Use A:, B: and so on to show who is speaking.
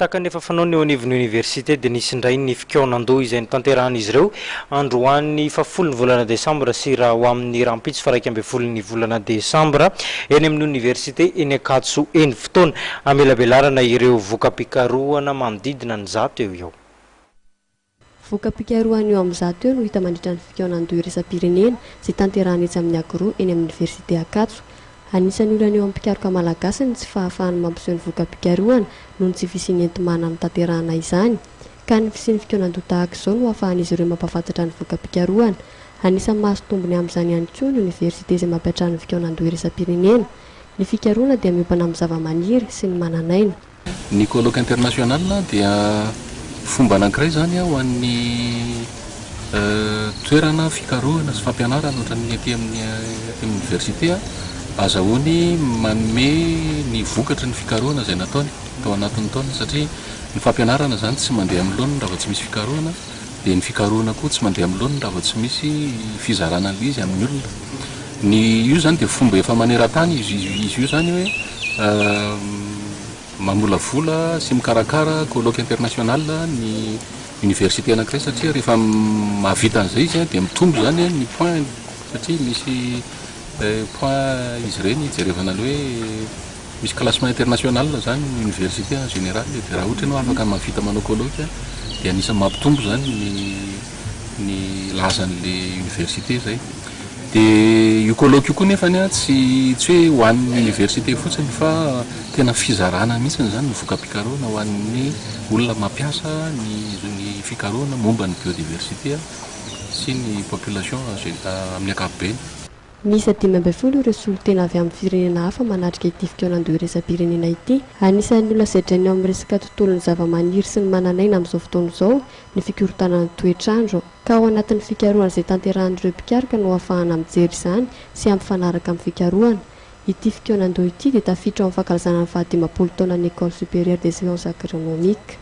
A: Tahaka ny efa fanaony eo anivon'ny oniversite dia nisy indray ny fikaonan-doha izay notanterahan'izy ireo androany fahafolon'ny volana desambra sy raha ho amin'ny rahampitso faharaika ambin'ny folon'ny volana desambra eny amin'ny oniversite eny Ankatso eny. Fotoana hamelabelarana ireo voka-pikarohana manodidina ny zato eo ho eo. Voka-pikarohana
B: eo amin'ny zato eo no hita mandritra ny fikaonan-doha iraisam-pirenena izay tanterahana etsy amin'ny Agro eny amin'ny Oniversite Ankatso. Anisan'ny olana eo amin'ny mpikaroka malagasy ny tsy fahafahany mampiseho ny voka-pikarohana noho ny tsy fisian'ny enti-manana hanatanterahana izany ka ny fisian'ny fikaonan-doha tahaka izao no ahafahan'izy ireo mampahafantatra ny voka-pikarohana. Anisan'ny mahazo tombony amin'izany ihany koa ny Oniversite izay mampiantrano ny fikaonan-doha iraisam-pirenena. Ny fikarohana dia miompana amin'ny zavamaniry sy ny manan'aina. Ny Colloque
C: International dia fomba anankiray izany ho an'ny toerana fikarohana sy fampianarana ohatran'ny aty amin'ny Université. Azahoany manome ny vokatry ny fikarohana izay nataony tao anatin'ny taona satria ny fampianarana izany tsy mandeha amin'ny laoniny raha vao tsy misy fikarohana. dia ny fikarohana koa tsy mandeha amin'ny laoniny raha vao tsy misy fizarana an'ilay izy amin'ny olona. Ny io izany dia fomba efa maneran-tany izy izy io izany hoe mamolavola sy mikarakara colloque international ny université anankiray satria rehefa mahavita an'izay izy dia mitombo izany ny points satria misy points izy ireny hijerevana ny hoe Misy classement international izany ny université en général e, dia raha ohatra ianao afaka mahavita manao colloque a, dia anisan'ny mampitombo izany ny ny lazan'ilay université izay. Dia io colloque io koa nefany a, tsy tsy hoe ho an'ny université fotsiny fa tena fizarana mihitsiny izany ny voka-pikarohana ho an'ny olona mampiasa ny ny fikarohana momba ny biodiversité sy ny population en gé- amin'ny ankapobeny. Miisa dimy
B: ambin'ny folo ireo solontena avy amin'ny firenena hafa manatrika ity fikaonandoha iraisam-pirenena ity. Anisan'ny olona sedrainy ao amin'ny resaka tontolon'ny zava-maniry sy ny manan'aina amin'izao fotoana izao ny fikorontanan'ny toetr'andro, ka ao anatin'ny fikarohana izay tanterahan'ireo mpikaroka no hahafahana mijery izany sy hampifanaraka amin'ny fikarohana. Ity fikaonandoha ity dia tafiditra ao amin'ny fankalazana ny fahadimampolo taonan'ny Ecole Supérieure des Sciences Agronomiques.